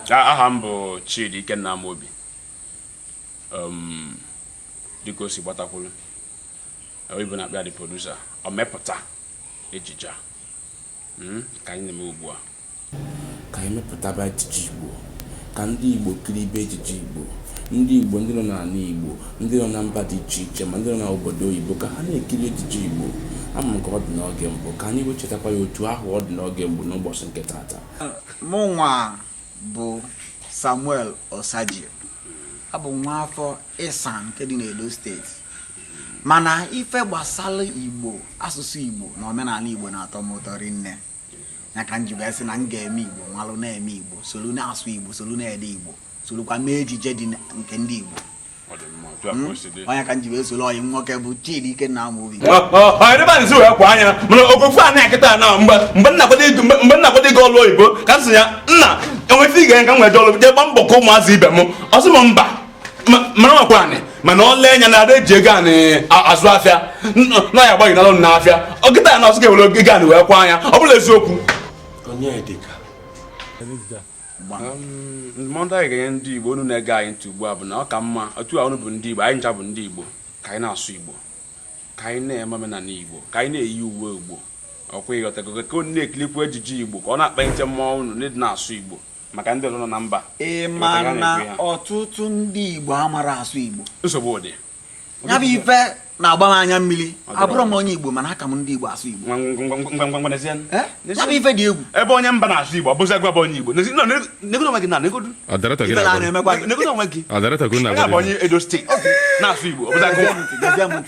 aha m bụ Chidi Ikenna Amobi um, dịka o si gbatakwuru oyibo na-akpọ ya the producer omepụta ejije a hmm, ka anyị na-eme ugbu a Ka anyị mepụtaba ejije Igbo, ka ndị Igbo kiribe ejije Igbo. Ndị Igbo, ndị nọ n'ala Igbo, ndị nọ na mba dị iche iche ma ndị nọ n'obodo oyibo ka ha na-ekiri ejije Igbo. Ama m ka ọ dị n'oge mbụ, ka anyị wee chetakwa ya otu ahụ ọ dị n'oge mbụ n'ụbọchị nke taata. Mụnwa bụ Samuel Osagie. Abụ m nwa afọ Esan nke dị n'Edo steeti. Mana ife gbasara Igbo, asụsụ Igbo na omenala Igbo na-atọ m ụtọ rinne. ya ka m ji wee sị na m ga-eme igbo malụ na-eme igbo solu na-asụ igbo solu na-ede igbo solukwa mee ejije dị nke ndị igbo Hmm? onye ka m ji wee solu ọyị nwoke bụ Chidi Ikenna Amobi ọdịbanzi wee kwa anya mana oge afụ a na-echeta na mgbe m na-akwado ịga ọlụ oyibo ka m sị ya nna e nwee ife ị ga-enye ka m wee jee ọlụ jee gba mbọ ka ụmụazị ibe m ọ sị m mba mara makwa anị mana ọ lee anya na ada eji ego anị azụ afịa na ya agbaghị n'alụ na afịa ọ kịta ya na ọsụ ga-ewere ego anị wee kwa anya ọ bụla eziokwu ndụmọdụ anyị ga-enye ndị igbo unu na-ege anyị ntị ugbu a bụ na ọ ka mma otu a unu bụ ndị igbo anyị ncha bụ ndị igbo ka anyị na-asụ igbo ka anyị na-eme omenala igbo ka anyị na-eyi uwe igbo ọ kwa ị ghọtago ka unu na-ekilikwu ejije igbo ka ọ na-akpalite mmụọ unu na-asụ igbo maka ndị ọzọ nọ na mba ị ma na ọtụtụ ndị Igbo amarọ asụ Igbo nsogbu dị ya bụ ife na-agba m anya mmiri abụrọ m onye Igbo mana aka m ndị Igbo asụ Igbo eh? ya bụ ife dị egwu ebe onye mba na-asụ Igbo ọ bụzi gịnwa bụ onye Igbo negodo onwe gị na negodo onwe gị na-abụ onye Edo steeti na-asụ Igbo ọ bụzi gịnwa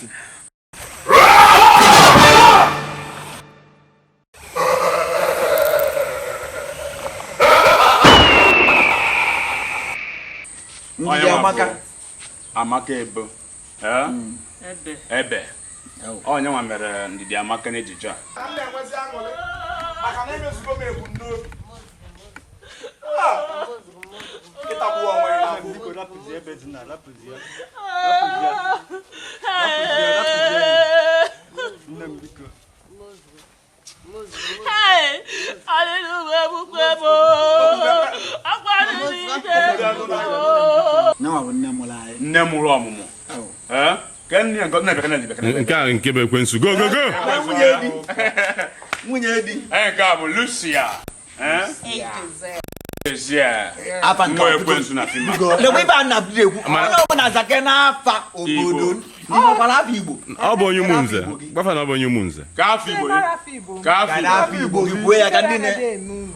ndị amaka Amaka Ebo hmm. ebe onye nwa mere Ndidiamaka n'ejije a nne mụrụ ọmụmụ nke a nke bụ ekwensu go go go nwunye di nke a bụ Lucia ọ bụ onye Ụmụnze gwa fa na ọ bụ onye Ụmụnze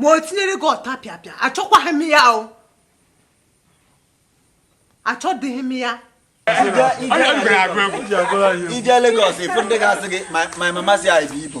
ma o tinyere gị ọtapịapịa achọkwaghị m ya o achọdịghị m ya i jee Lagos ị fụ ndị ga-asị gị my mama say I be Igbo